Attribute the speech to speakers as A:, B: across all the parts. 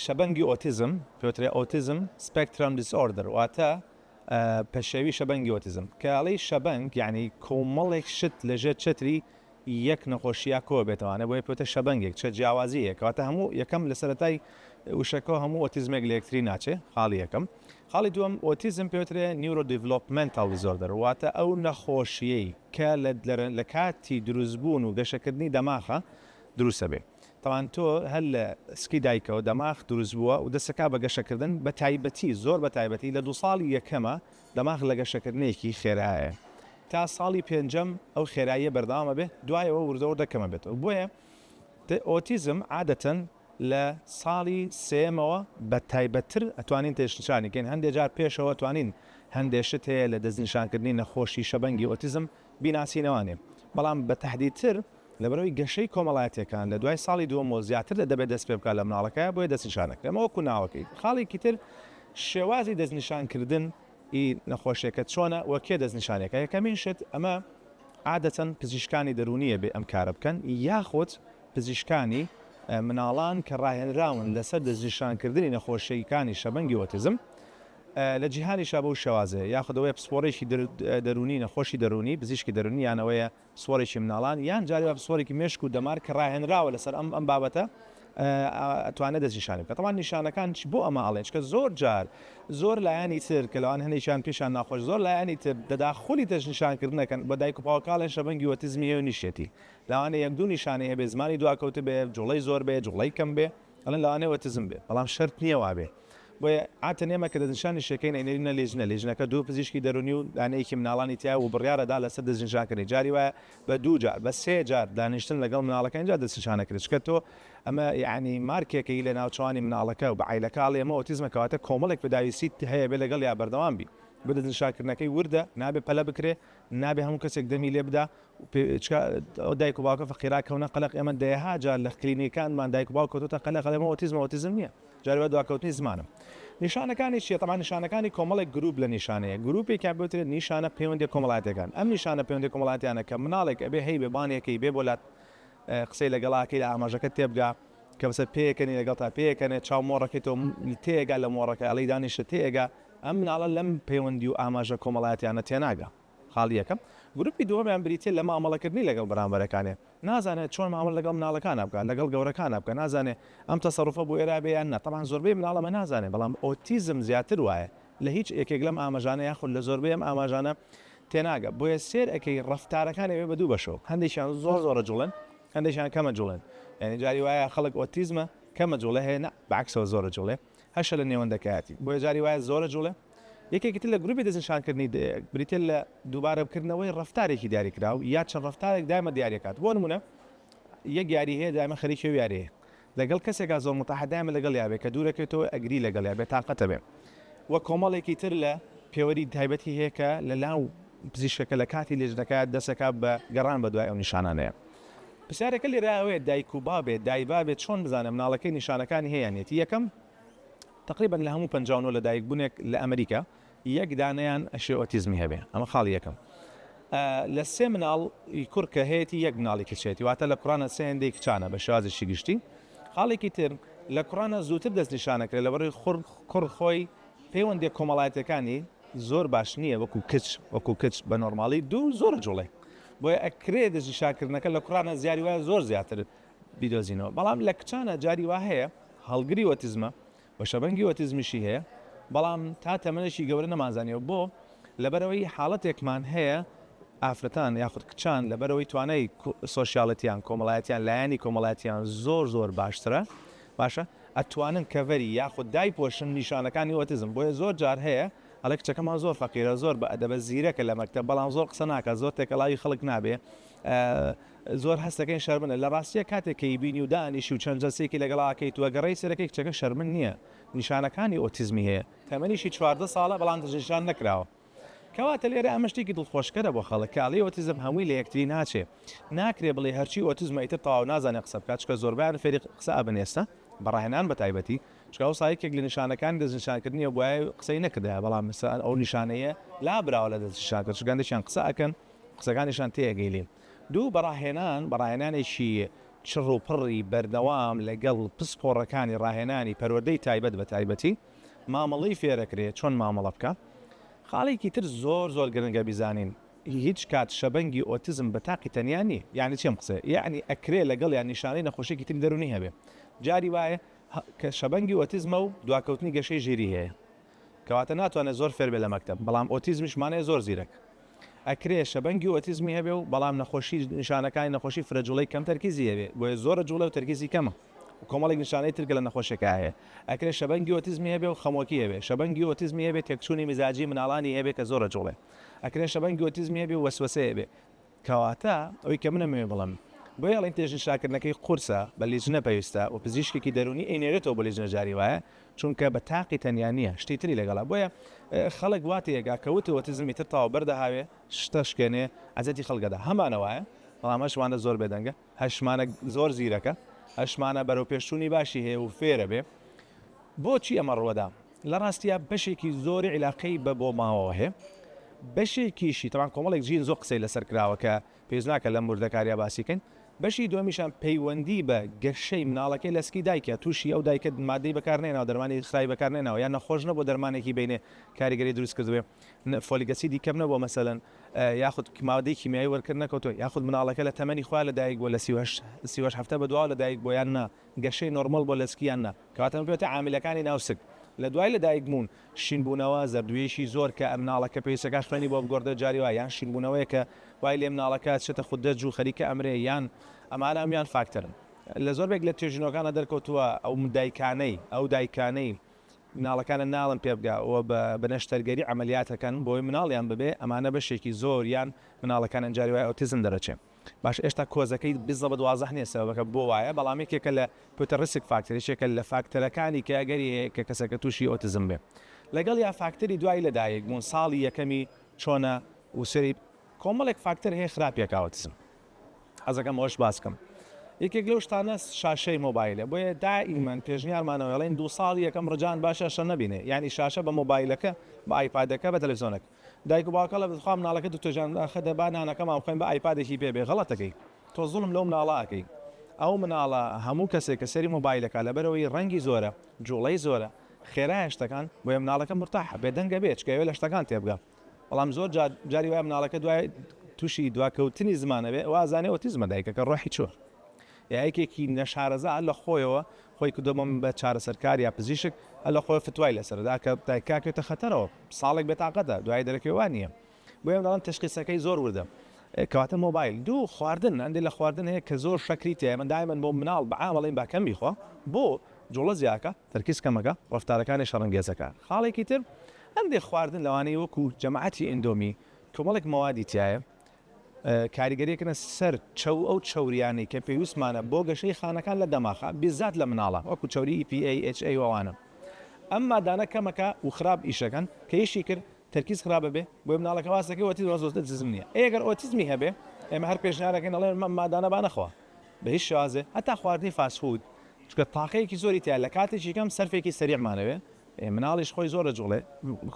A: شەبەنگی ئۆتیزم، پێوترێ Autism Spectrum Disorder، واتە پەشێوی شەبەنگی ئۆتیزم، کە ئەڵێی شەبەنگ یانی کۆمەڵێک شت لە ژێر چەتری یەک نەخۆشیا کۆ بێتەوە ئەنە بۆیە پێوتە شەبەنگێک چە جیاوازی هەیە کەواتە هەموو یەکەم لە سەرەتای وشەکەەوە هەموو ئۆتیزمێک لە یەکتری ناچێ خاڵی یەکەم خاڵی دووەم ئۆتیزم پێوترێ نیورۆ دیڤلوپمنتال دیزۆردەر واتە ئەو نەخۆشیەی کە لە لە کاتی دروستبوون و گەشەکردنی دەماخە دروستە بێ. تاوان تۆ هەر لە سکی دایکەوە دەماخ دروست بووە و دەسەکا بە گەشەکردن بە تایبەتی زۆر بە تایبەتی لە دوو ساڵی یەکەمە دەماخ لە گەشەکردنێکی خێرایە تا ساڵی پێنجەم ئەو خێراییە بەردەوامە بێت دوایەوە وردە وردە کەمە بێتەوە بۆیە ئۆتیزم عادەتەن لە ساڵی سێمەوە بە تایبەتتر ئەتوانین تێشنشانی کەین هەندێ جار پێشەوە توانین هەندێ شت هەیە لە دەستنیشانکردنی نەخۆشی شەبەنگی ئۆتیزم بیناسینەوانێ، بەڵام بە تەحدیدتر لەبەرئەوەی گەشەی کۆمەڵایەتیەکان لە دوای ساڵی دووەم و زیاتر لە دەبێت دەست پێبکات لە مناڵەکەیا بۆیە دەستنیشانەکرێ ئەمە وەکو ناوەکەی. خاڵێکی تر شێوازی دەستنیشان کردن ی نەخۆشیەکە چۆنە و کێ دەستنیشانی ئەکا یەکەمین شت ئەمە عادەتەن پزیشکانی دەروونی ئەبێ ئەم کارە بکەن یاخود پزیشکانی مناڵان کە ڕاهێنراون لەسەر دەستنیشان کردنی نەخۆشیەکانی شەبەنگی ئۆتیزم لە جیهانیشا بەو شێوازەیە، یاخود ئەوەیە پسپۆڕێکی دەروونی، نەخۆشی دەروونی، پزیشکی دەروونی، یان ئەوەیە پسپۆڕێکی منداڵان، یان جاری وا پسپۆڕێکی مێشک و دەمار کە ڕاهێنراوە لەسەر ئەم بابەتە توانێت دەستنیشانی بکات. تەبعەن نیشانەکان بۆ ئەمە ئەڵێن، چونکە زۆر جار زۆر لایەنی تر کە لەوانە هەندێکیان پێشیان ناخۆش، زۆر لایەنی تر تەداخولی دەستنیشانکردنەکەن بە دایک و باوکاڵێن شەبەنگی ئۆتیزمی ئێوە نیشێتی. لەوانەیە یەک دوو نیشانەی هەبێت، زمانی دواکەوتبێت، جوڵەی زۆر بێت، جوڵەی کەم بێت. ئەڵێن لەوانەیە ئۆتیزم بێت، بەڵام شەرت نییە وابێت. بۆیە عاتن ئێمە کە دەستنیشانی شێکەین ئەینێرینە لیژنە، لیژنەکە دوو پزیشکی دەروونی و لانەیەکی مناڵانی تیایە و بڕیار ئەدا لەسەر دەستنیشانکردنی جاری وایە بە دوو جار بە سێ جار دانیشتن لەگەڵ مناڵەکە ئینجا دەستنیشان ئەکرێت چکە تۆ ئەمە یەعنی مارکێکەی لە ناوچەوانی مناڵەکە و بە عایلەکە ئەڵێی ئەمە ئۆتیزمە کەواتە کۆمەڵێک پداویستیت هەیە بێ لەگەڵیا بەردەوام بی بۆیە دەستنیشانکردنەکەی وردە نابێت پەلە بکرێت نابێت هەموو کەسێک دەمی لێ بدا چکە ئەو دایک و باوکە فەقیرا کەونە قەلەق ئێمە دەیەها جار لە کلینیکانمان دایک و باوک کەوتوتە قەلەق ئەڵێ من ئۆتیزمم ئۆتیزم نییە جار وای دواکەوتنی زمانم نیشانەکانی چییە تەمان نیشانەکانی کۆمەڵێک گروپ لە نیشانەیە گروپێکیان بوترێت نیشانە پەیوەندی کۆمەڵاتەکان ئەم نیشانە پەیوەندی کۆمەڵاتیانە کە مناڵێک ئەبێ هەی بێ بانێکەی بێ بۆلات قسەی لەگەڵاکەی لە ئاماژەکە تێبگا کە بەسەر پێکەنی لەگەڵ تا پێکەنێت چاو مۆڕەکەی تۆ تێگا لە مۆڕەکە ئەڵی دانیشە تێگا ئەم مناڵە لەم پەیوەندی و ئاماژە کۆمەڵاتیانە تێناگە خاڵی یەکەم، گروپی دووەمیان بریتیە لە مامەڵەکردنی لەگەڵ بەرامبەرەکانێ، نازانێ چۆن مامەڵە لەگەڵ مناڵەکانا بکا، لەگەڵ گەورەکانا بکا، نازانێ ئەم تەسەروفە بۆ ئێرا بێ یان نا، تەبعەن زۆربەی مناڵ ئەمە نازانێ، بەڵام ئۆتیزم زیاتر وایە، لە هیچ ێەکێک لەم ئامەژانە یاخود لە زۆربەی ئەم ئاماژانە تێناگە، بۆیە سێر ئەکەی ڕەفتارەکان ئەبێ بە دوو بەشەوە، هەندێکیان زۆر زۆرە جوڵێن، هەندێکیان کەمە جوڵێن، یانی جاری وایە خەڵک ئۆتیزمە کەمە جوڵێ هەیە نا بە عەکسەوە زۆرە جوڵێ. هەشە لە نێوەندەکایەتی، بۆیە جاری وایە زۆرە جوڵێ. یەکێکی تر لە گروپی دەستنیشانکردنی دەیەک بریتیە لە دووبارەبکردنەوەی ڕەفتارێکی دیاریکراو یا چەند ڕەفتارێک دایمە دیاریەکات بۆ نمونە یەک یاری هەیە دایمە خەریکی ئەو یاریەیە لەگەڵ کەسێکا زۆر متاحە دایمە لەگەڵیا بێ کە دوورەکەوێتەوە ئەگری لەگەڵیا بێ تاقەتە بێ وە کۆمەڵێکی تر لە پێوەری تایبەتی هەیە کە لە لاو پزیشکەکە لە کاتی لێژنەکە دەسەکا بە گەڕان بە دوای ئەو نیشانانەیە پرسیارەکە لێرە ئەوەیە دایک و بابێ دایبابێ چۆن بزانێ مناڵەکەی نیشانەکانی هەیە یان نیەتی یەکەم تەقریبەن لە هەموو پەنجا و نۆ لەدایک بونێک لە ئەمریکا یەک دانەیان ئەشێ ئۆتیزمی هەبێ ئەمە خاڵی یەکەم لە سێ مناڵ ی کوڕ کە هەیەتی یەک مناڵی کچ هەیەتی واتە لە کوڕانە سێ هێندەی کچانە بە شێوازێکی گشتی خاڵێکی تر لە کوڕانە زووتر دەست نیشانەکرێ لەبەڕی خور کوڕ خۆی پەیوەندیە کۆمەڵایەتەکانی زۆر باش نییە وەکو کچ وەکو کچ بە نۆرماڵی دوو زۆر جوڵێ بۆیە ئەکرێ دژی شاکردنەکە لە کوڕانە زیاری وایە زۆر زیاتر بیدۆزینەوە بەڵام لە کچانە جاری وا هەیە هەڵگری ئۆتیزمە و شەبەنگی ئۆتیزمیشی هەیە بەڵام تا تەمەنێکی گەورە نەمانزانیەوە بۆ لەبەرەوەی حاڵەتێکمان هەیە ئافرەتان یاخود کچان لەبەرەوەی توانای سۆشیالەتیان کۆمەڵایەتیان لایەنی کۆمەڵاتیان زۆر زۆر باشترە باشە ئەتوانن کەڤەری یاخود دایپۆشن نیشانەکانی ئۆتیزم بۆیە زۆر جار هەیە ئەڵێ کچەکەمان زۆر فەقیرە زۆر بە ئەدەبە زیرەکە لە مەکتەب بەڵام زۆر قسە ناکات زۆر تێکەڵاوی خەڵک نابێ زۆر هەستەکەین شەرمنە لە ڕاستیە کاتێک کەی بینی و دانیشی و چەند جەلسێکی لەگەڵا کەیت و گەڕێی سەرەکەی کچەکە شەرمن نییە نیشانەکانی ئۆتیزمی هەیە تەمەنیشی چواردە ساڵە بەڵام دەستنیشان نەکراوە کەواتە لێرە ئەمە شتێکی دڵخۆشکەرە بۆ خەڵک کاڵی ئۆتیزم هەمووی لە یەکتری ناچێ ناکرێ بڵێ هەرچی ئۆتیزمە ئیتر تەواو نازانێ قسە بکات چکە زۆربەیان فێری قسە ئەبن ئێستا بە ڕاهێنان بە تایبەتی چونکە ئەوسا یەکێک لە نیشانەکانی دەستنیشانکردنیە گوایە قسەی نەکردایە بەڵام ئێستا ئەو نیشانەیە لابراوە لە دەستنیشانکردن چونکە هەندێکیان قسە ئەکەن قسەکانیشان تێئەگەیلین دوو بە ڕاهێنان بە ڕاهێنانێکی چڕ و پڕی بەردەوام لەگەڵ پسپۆڕەکانی ڕاهێنانی پەروەردەی تایبەت بە تایبەتی مامەڵەی فێرەکرێ چۆن مامەڵە بکا خاڵێکی تر زۆر زۆر گرنگە بیزانین هیچ کات شەبەنگی ئۆتیزم بە تاقی تەنیا نیە یانی چی ئەم قسەیە یانی ئەکرێ لەگەڵیا نیشانەی نەخۆشیەکی تری دەرونی هەبێ جاری وایە کە شەبەنگی ئۆتیزمە و دواکەوتنی گەشەی ژیری هەیە کەواتە ناتوانێت زۆر فێر بێت لە مەکتەب بەڵام ئۆتیزمیش مانای زۆر زیرەک ئەکرێ شەبەنگی ئۆتیزمی هەبێ و بەڵام نەخۆشی نیشانەکانی نەخۆشی فرە جوڵەی کەم تەرکیزی هەبێ بۆیە زۆرە جوڵە و تەرکیزی کەمە و کۆمەڵێک نیشانەی تر کە لە نەخۆشێکا هەیە ئەکرێ شەبەنگی ئۆتیزمی هەبێ و خەمۆکی هەبێ شەبەنگی ئۆتیزمی هەبێ تێکچوونی میزاجی مناڵانی هەبێ کە زۆرە جوڵێ ئەکرێ شەبەنگی ئۆتیزمی هەبێ و وەسوەسەی هەبێ کەواتە ئەوەی کە من ئەمەوێ بڵێم بۆیە ئەڵێن تێژ ئینشاکردنەکەی قورسە بە لیجنە پێویستە و پزیشکێکی دەروونی ئەینێرێتەوە بۆ لیجنە جاری وایە چونکە بە تاقی تەنیا نییە شتی تری لەگەڵە بۆیە خەڵک وا تێگا کە وت ئۆتیزم ئیتر تەواو بەر دەهاوێ شتە شکێنێ عەزێتی خەڵک ئەدا هەمانە وایە بەڵام ئەش وانە زۆر بێدەنگە. هەشمانە زۆر زیرەکە، هەشمانە بەرەوپێشچوونی باشی هەیە و فێرە بێ بۆچی ئەمە ڕووەدا. لە ڕاستیا بەشێکی زۆری عیلاقەی بە بۆ ماوەوە هەیە، بەشێکیشی تەبعەن کۆمەڵێک جین زۆر قسەی لەسەر کراوە کە پێویست ناکە لەم وردەکارییە باسی کەین. بەشی دووەمیشان پەیوەندی بە گەشەی مناڵەکەی لە سکی دایکە، تووشی ئەو دایکە مادەی بەکار نەهێناوە، دەرمانی خراپی بەکار نەهێناوە، یان نەخۆش نەبووە دەرمانێکی بینێ کاریگەری دروست کردبێ، فۆلیک ئەسیدی کەم نەبووە مەسەلەن. یاخود مادەی کیمیایی وەرکرد نەکەوتووە یاخود مناڵەکە لە تەمەنی خۆیا لە دایک بووە لە سی و هەشت سی و هەشت هەفتە بەدواوە لە دایک بووە یان نا گەشەی نۆرماڵ بووە لە سکی یان نا کەواتە ئەمە پێوتە عاملەکانی ناو سک لە دوای لە دایک بوون شین بوونەوە زەردوویەکی زۆر کە مناڵەکە پێویستەکە خوێنی بۆ بگۆڕدرێت جاری وا یان شین بوونەوەیە کە وای لێ مناڵەکە ئەچێتە خودەج و خەریکە ئەمرێ یان ئەمانە هەموویان فاکتەرن لە زۆربێک لە توێژینەوەکاندا دەرکەوتووە ئەو دایکانەی ئەو دایکانەی مناڵەکانە ناڵن پێبگە و بە نەشتەرگەری عەمەلیات ئەکەن بۆوەی مناڵیان ببێ ئەمانە بەشێکی زۆر یان مناڵەکان ئەن جاری وایە ئۆتیزم دەرەچێ باشە ئێشتا کۆزەکەی بزەبت وازح نیە سەبەبەکە بۆ وایە بەڵام یەکێکە لە پوتە ڕیسک فاکتەر یەکێکە لە فاکتەرەکانی کە ئەگەری هەیە کە کەسەکە توشی ئۆتیزم بێ لەگەڵ یا فاکتەری دوای لە دایک بوون ساڵی یەکەمی چۆنە و سەری کۆمەڵێک فاکتەر هەیە خراپیە کە ئۆتیزم حەزەکەم ئەوەش باس بکەم یەکێک لەو شتانە شاشەی مۆبایلە بۆیە دائیمەن پێشنیارمانەوە ئەڵێن دوو ساڵ یەکەم ڕجان با شاشە نەبینێ یعنی شاشە بە مۆبایلەکە بە ئایپادەکە بە تەلەڤزیۆنەک دایک و باوکە لە بخوا مناڵەکە دکتۆر جان داخە دەبا نانەکەمان بخۆین بە ئایپادێکی پێ بێ غەڵەتەکەی تۆ زوڵم لەو مناڵە ئەکەی ئەو مناڵە هەموو کەسێک کە سەری مۆبایلەکە لەبەرەوەی ڕەنگی زۆرە جوڵەی زۆرە خێرایە شتەکان بۆیە مناڵەکە مرتاحە بێدەنگە بێ چکە ئەوێ لە شتەکان تێبگا. بەڵام زۆر جار جاری وایە مناڵەکە دوای تووشی دواکەوتنی زمان ئەبێ ئەوە ئازانێ ئۆتیزمە دایکەکە ڕۆحی چووە یا یەکێکی نەشارەزا لە خۆیەوە خۆی کردەوە بە چارەسەرکار یا پزیشک هەر لە خۆی فتوای لەسەردا کە دایکاکێتە خەتەرەوە ساڵێک بێتاقەتە دوای دەرەکەی وا نییە بۆ ئێم دەڵم تشخیصەکەی زۆر وردە کەواتە مۆبایل دوو خواردن ئەندی لە خواردن هەیە کە زۆر شەکری تێ من دایمن بۆ مناڵ بەعاڵین باکەم بیخۆ بۆ جوڵە زیاکە تەرکیز کەمەکە ڕفتارەکانی شەڕنگێزەکە خاڵێکی تر هەندێک خواردن لەوانەیە وەکو جەماعەتی ئێندۆمی کۆمەڵێک مەوادی تیایە کاریگەریەکەنە سەر چەو ئەو چەوریانەی کە پێویستمانە بۆ گەشەی خانەکان لە دەماخ بیزات لە مناڵان وەکو چەوری EPAHA و ئەوانە ئەم مادانە کەمەکە و خراپ ئیشەکەن کە یشی کرد تەرکیز خراپ ئەبێ بۆیە مناڵەکە واز دەکەی ئۆتیزم واز ئۆتیزم نیە ئەی گەر ئۆتیزمی هەبێ ئێمە هەر پێشنیار ئەکەین ئەڵێن ئەم مادانە با نەخوا بە هیچ شێوازێ هەتا خواردنی فاست فود چونکە تاقەیەکی زۆری تیایە لە کاتێکی کەم سەرفێکی سەریعمان ئەوێ مناڵیش خۆی زۆر دەجوڵێ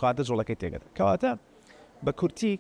A: کاتە جوڵەکەی تێکدەدات. کەواتە بە کورتی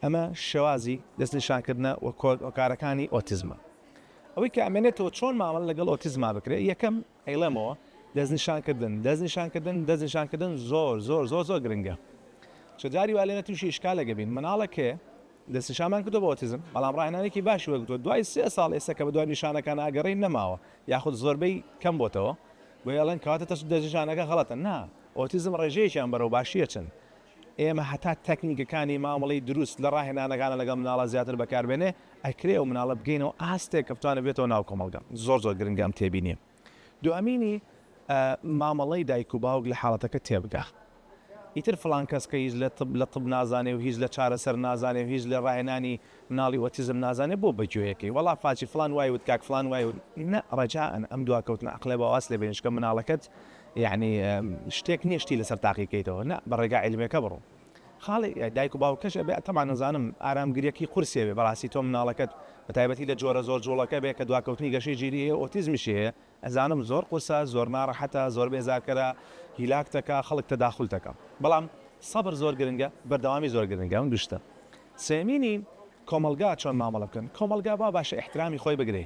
A: ئەمە شێوازی دەست نیشان کردنە و کۆکارەکانی ئۆتیزمە. ئەوەی کە ئەمێنێتەوە چۆن مامەڵە لەگەڵ ئۆتیزما بکرێ یەکەم ئەیڵێمەوە دەست نیشان کردن دەست نیشان کردن دەست نیشان کردن زۆر زۆر زۆر زۆر گرنگە چ جاری وا لێنە تووشی ئیشکالێکە بین مناڵەکێ دەست نیشانمان کردو بۆ ئۆتیزم بەڵام ڕاهێنانێکی باشی وەرگرتووە دوای سێ ساڵ ئێستا کە بە دوای نیشانەکان ئاگەڕێین نەماوە یاخود زۆربەی کەم بۆتەوە بۆیە ئەڵێن کەواتە تەشت دەرجەجانەکە غەڵەتە نا ئۆتیزم ڕێژەیەکیان بەرەو باشی ئەچن ئێمە هەتا تەکنیکەکانی مامەڵەی دروست لە ڕاهێنانەکانا لەگەڵ مناڵە زیاتر بەکار بێنێ ئەکرێ و مناڵە بگەینەوە ئاستێک کە بتوانێ بێتەوە ناو کۆمەڵگە زۆر زۆر گرنگە ئەم تێبینیە دووەمینی مامەڵەی دایک و باوک لە حاڵەتەکە تێبگا ئیتر فڵان کەس کە هیچ لە طب لە طب نازانێ و هیچ لە چارەسەر نازانێ و هیچ لە ڕاهێنانی مناڵی ئۆتیزم نازانێ بۆ بە گوێیەکەی وەڵا فاچی فڵان وای وت کاک فڵان وای وت نە ڕەجائەن ئەم دواکەوتنە ئەقڵە با واز لێ بێنین چونکە مناڵەکەت یەعنی شتێک نیە شتی لەسەر تاقی کەیتەوە نە بە ڕێگا عیلمیەکە بڕۆ خاڵی دایک و باوکەش ئەبێ تەبعەن نەزانم ئارامگریەکی قورسێ بێ بەڕاستی تۆ مناڵەکەت بە تایبەتی لە جۆرە زۆر جوڵەکە بێ کە دواکەوتنی گەشەی ژیری هەیە و ئۆتیزمیشی هەیە ئەزانم زۆر قورسە زۆر ناڕەحەتە زۆر بێزارکەرە هیلاک دەکا خەڵک تەداخول دەکا بەڵام سەبر زۆر گرنگە بەردەوامی زۆر گرنگە ئەم دوو شتە سێمینی کۆمەڵگا چۆن مامەڵە بکەن کۆمەڵگا وا باشە ئیحترامی خۆی بگرێ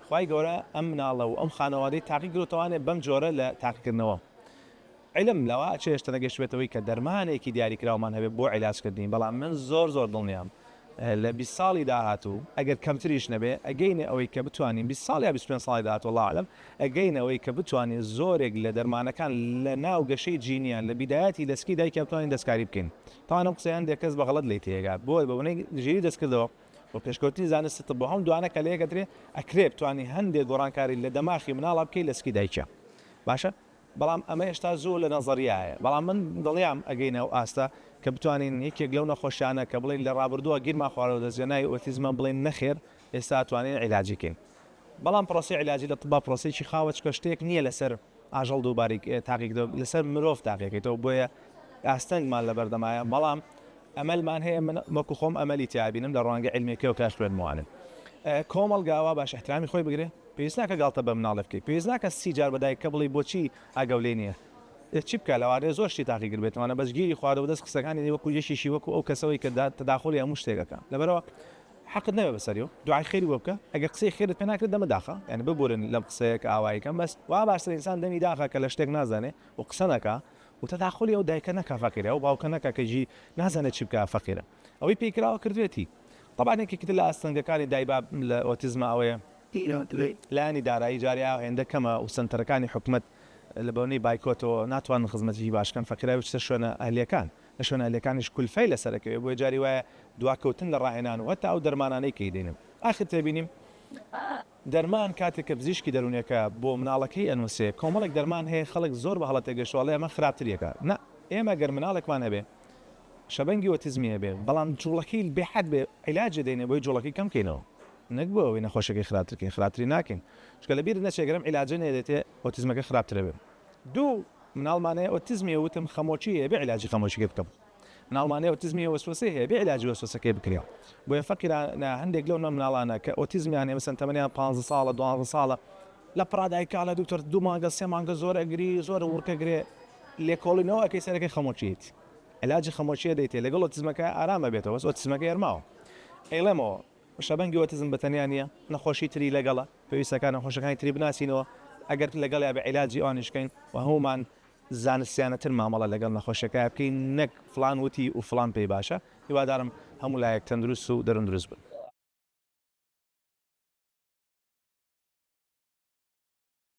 A: خوای گەورە ئەم مناڵە و ئەم خانەوادەی تاقی کردۆتەوانێ بەم جۆرە لە تاقیکردنەوە عیلم لەوە چێژترە گەیشتبێتەوەی کە دەرمانێکی دیاریکراومان هەبێت بۆ عیلاجکردنی، بەڵام من زۆر زۆر دڵنیام لە بیست ساڵی داهاتوو ئەگەر کەمتریش نەبێت ئەگەینە ئەوەی کە بتوانین بیست ساڵ یا بیست و پێنج ساڵی داهاتوو اللە اعلم ئەگەینە ئەوەی کە بتوانین زۆرێک لە دەرمانەکان لە ناو گەشەی جینیان لە بیدایەتی لەسکی دایکیان بتوانین دەستکاری بکەین تاوان ئەم قسەیە هەندێک کەس بە غەڵەت لێی تێگات بۆیە بە بۆنەی ژیری دەستکردەوە و پێشکەوتنی زانستی طب و هەم دوانە کە لەیەک ئەدرێ ئەکرێ بتوانی هەندێک گۆڕانکاری لە دەماخی مناڵا بکەی لەسکی دایکیا باشە بەڵام ئەمە هێشتا زۆر لە نەزەریایە، بەڵام من دڵنیام ئەگەینە ئەو ئاستە کە بتوانین یەکێک لەو نەخۆشیانە کە بڵێین لە ڕابردووە گیرمان خواردوە دەست بەناوی ئۆتیزمە بڵێین نەخێر ئێستا توانین عیلاجی کەین بەڵام پرۆسەی عیلاجی لە طبا پرۆسەیەکی خاوە چونکە شتێک نیە لەسەر ئاژەڵ دووبارەی تاقیکردەوە لەسەر مرۆڤ تاقیکەیتەوە بۆیە ئاستەنگمان لەبەردەمایە بەڵام ئەمەلمان هەیە من وەکو خۆم ئەمەلی تیابینم لە ڕوانگە علمیەکەوە کە خوێندموانێ کۆمەڵگا وا باش احترامی خۆی بگرێ. پێویست ناکە گاڵتە بە مناڵێ بکەی پێویست ناکە سی جار بە دایککە بڵێی بۆچی ئاگاو لێ نیە ئێ چی بکا لەوانەیە زۆر شتی تاقیگر بێت ئەمانە بەس گیری خوارد و بەدەست قسەکانی دەی وەکو یەکێکی وەکو ئەو کەسەوەی کە تەداخولی هەموو شتێک ئەکا لەبەرئەوە حەقت نەبێت بەسەری و دوعای خێری بۆ بکە ئەگەر قسەی خێرت پێ ناکرێت دەمت داخە یانی ببورن لەم قسەیە کە ئاوایی کەم بەس وا باشترە ئینسان دەمی داخە کە لە شتێک نازانێ و قسە نەکا و تەداخولی ئەو دایکە نەکا فەقیرە ئەو باوکە نەکا کە جی نازانێ چی بکا فەقیرە. ئەوەی پیکراوە کردوێتی. تەبعەن یەکێکی تر لە ئاستەنگەکانی دایباب لە ئۆتیزمە ئەوەیە، لایەنی دارایی جارێ ئاو هێندە کەمە و سەنتەرەکانی حکومەت لە بۆنەی بایکۆتەوە ناتوانن خزمەتیی باش کەن، فەقیراوی بچتە شوێنە ئەهلییەکان، لە شوێنە ئەهلییەکانیش کولفەی لەسەر ئەکەوێ، بۆیە جاری وایە دواکەوتن لە ڕاهێنان و هەتا ئەو دەرمانانەی کەی دەینن ئاخر تێبینیم، دەرمان کاتێک کە پزیشکی دەرونیەکە بۆ مناڵەکەی ئەنوسێ کۆمەڵێک دەرمان هەیە خەڵک زۆر بە هەڵە تێگەشتوە ئەڵێ ئەمە خراپتری ئەکا نا ئێمە گەر مناڵێکمان هەبێ شەبەنگی ئۆتیزمی هەبێ بەڵام جوڵەکەی بێ حەد بێ عیلاجێ دەینێ بۆی جوڵەکەی کەم کەینەوە نەک بۆ ئەوەی نەخۆشیەکەی خراپتر کەین خراپتری ناکەین چونکە لەبیرت نەچێ گەر ئەم عیلاجە نەیەدێتێ ئۆتیزمەکە خراپتر ئەبێ دوو مناڵمان هەیە ئۆتیزمیە وتم خەمۆکی هەیە بێ عیلاجی خەمۆکیەکەی بکەم مناڵانی ئۆتیزمی وەسوەسەی هەیە بێ عیلاجی وەسوەسەکەی بکرێ بۆیە فەقیرە نە هەندێک لەو نە مناڵانە کە ئۆتیزمیان هەیە مەسەن تەمەنیان پانزە ساڵە دوانزە ساڵە لە پڕا دایکە ئەڵێ دوکتۆر دوو مانگە سێ مانگە زۆر ئەگری زۆر وڕک ئەگرێ لێکۆڵینەوە ئەکەی سەرەکەی خەمۆکیت عیلاجی خەمۆکیە دەیتێ لەگەڵ ئۆتیزمەکە ئارام ئەبێتەوە بەس ئۆتیزمەکەی هەر ماوە ئەیڵێمەوە شەبەنگی ئۆتیزم بە تەنیا نییە نەخۆشی تری لەگەڵە پێویستەکان نەخۆشەکانی تری بناسینەوە ئەگەر لەگەڵیا بە عیلاجی ئەوانیش کەین و هەموومان زانستیانە تر مامەڵە لەگەڵ نەخۆشەکە بکەین نەک فڵان وتی و فڵان پێی باشە هیوادارم هەموو لایەک تەندروست و دەرون دروست بن.